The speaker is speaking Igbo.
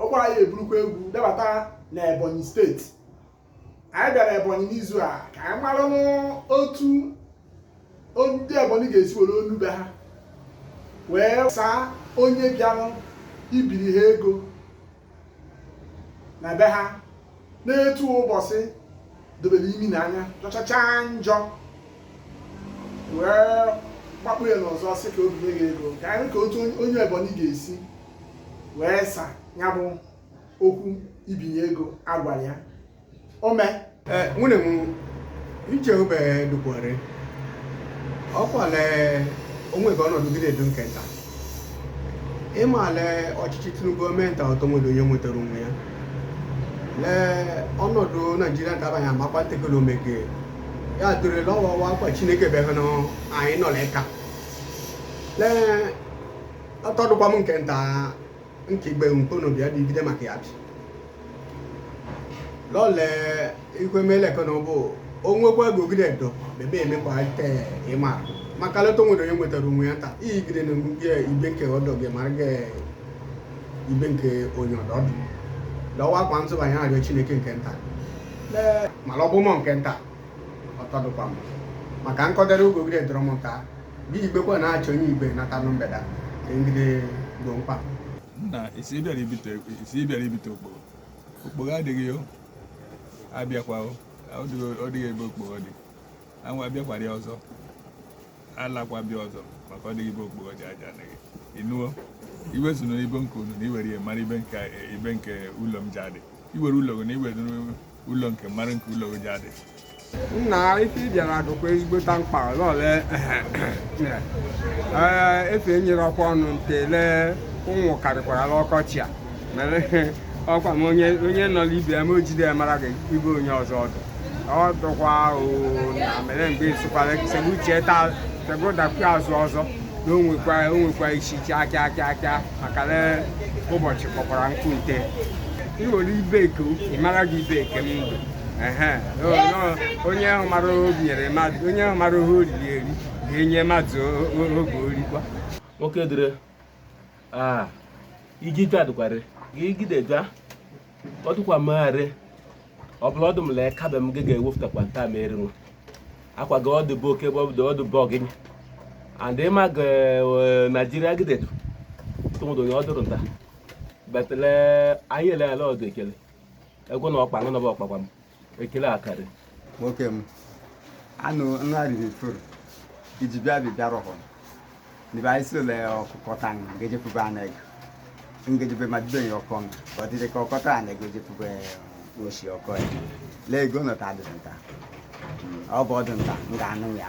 ọ gwara ya eburukwa egwu debata na ebonyi steeti anyị bịara ebonyi n'izu a ka anyị maranụ otu ndị ebonyi ga-esi were onu be ha wee saa onye bịara ibiri ha ego na be ha n'etu ụbọchị dobere imi na anya jọchacha njọ wee gbakpụ ya n'ọsọ sị ka o binye gị ego ka anyị ka otu onye ebonyi ga-esi wee saa ya bụ okwu ibinye ego a gwara ya o mee eh, nwune m iche obe dukwere ọ kwale onwe gị ọnọdụ gị na-edu nke nta ị ma le ọchịchị Tinubu gọọmenti ọ tọ nwedu onye nwetara onwe ya lee ọnọdụ Naijiria ka abaghị amakwa ntekele omege ya dịrịla ọwawa akwa Chineke bịaghị na anyị nọ l'ẹka lee ọ tọ dụkwa m nke nta nchegbe nkpono bịa bibide maka ya bi lọle ikwemelefe na ụbụ onwekwa gogide do bebe emekwa te ịma maka leta onwere onye nwetara onwe ya taa iyigide na gị ibe nke ọdọ gị mara gị ibe nke onye ọdọ ọdụ lọwa akwa ntụbanye arịọ chineke nke nta mana ọ bụ mọ nke nta ọ tọ dụkwa m maka nkọdere ogogide dọrọ m nta Gị igbekwa na-achọ onye igbe nata nụ mgbede a, ka ngide gboo mkpa. Nna, ị sị ị bịara ibite okpogho. Okpogho adịghị o. Abịakwa o. Ọ dịghị ebe okpogho dị. Anwa abịakwara ya ọzọ. Alakwa bịa ọzọ maka ọ dịghị ebe okpogho dị aja adịghị. Ịnụo? Iwe so na ibe nke unu na i were ya mara ibe nke ụlọ m ji adị. Iwere ụlọ gị na iwere ụlọ nke mara nke ụlọ oji adị nna ife ị bịara dụkwa ezigbota mkpa lọle efe enyere ọkwa ọnụ ntele ụmụ karịkwara ọkọchị a mere ọkwa m onye nọ n'ibe ya ma o jide ya mara gị ibe onye ọzọ ọdụ ọ dụkwa na mere mgbe ịsụkwara segbu uche taa segbu dakwu azụ ọzọ na o nwekwa isi chi aka aka aka maka le ụbọchị kpọkwara nkụ nte ị were ibe eke ị mara gị ibe eke m ndụ ehe o, nọ, onye ahụ mara o nyere mmadụ onye ahụ mara ihe oriri eri ga-enye mmadụ o- o- oge orikwa nwoke dịrị aa iji jụ adịkwara gị gide jụa ọ dụkwa magharị ọ bụla ọdụ m lee kabe m gị ga-ewepụtakwa nta m eri nwa akwa gị ọdụ bụ oke bọbụdụ ọdụ bụ ọgịnị and ị ma ge naijiria gidetu tụmụdụ onye ọdụrụ nta betele anyị ele ala ọdụ ekele egwu na ọkpa ngụ na bụ ọkpakwa m ekele akarị nwoke m anụ nna riri furu iji bịa bi bịa rọhọ n'ibe anyị si ụlọ ọkụkọ ta nga ngejepụbe aneg ngejebe ma dibe ya ọkọ nga ka ọ dịdị ka ọkọta aneg ejepụbe oshi ọkọ ya lee ego nọta adị nta ọ bụ ọdụ nta nga anụ ya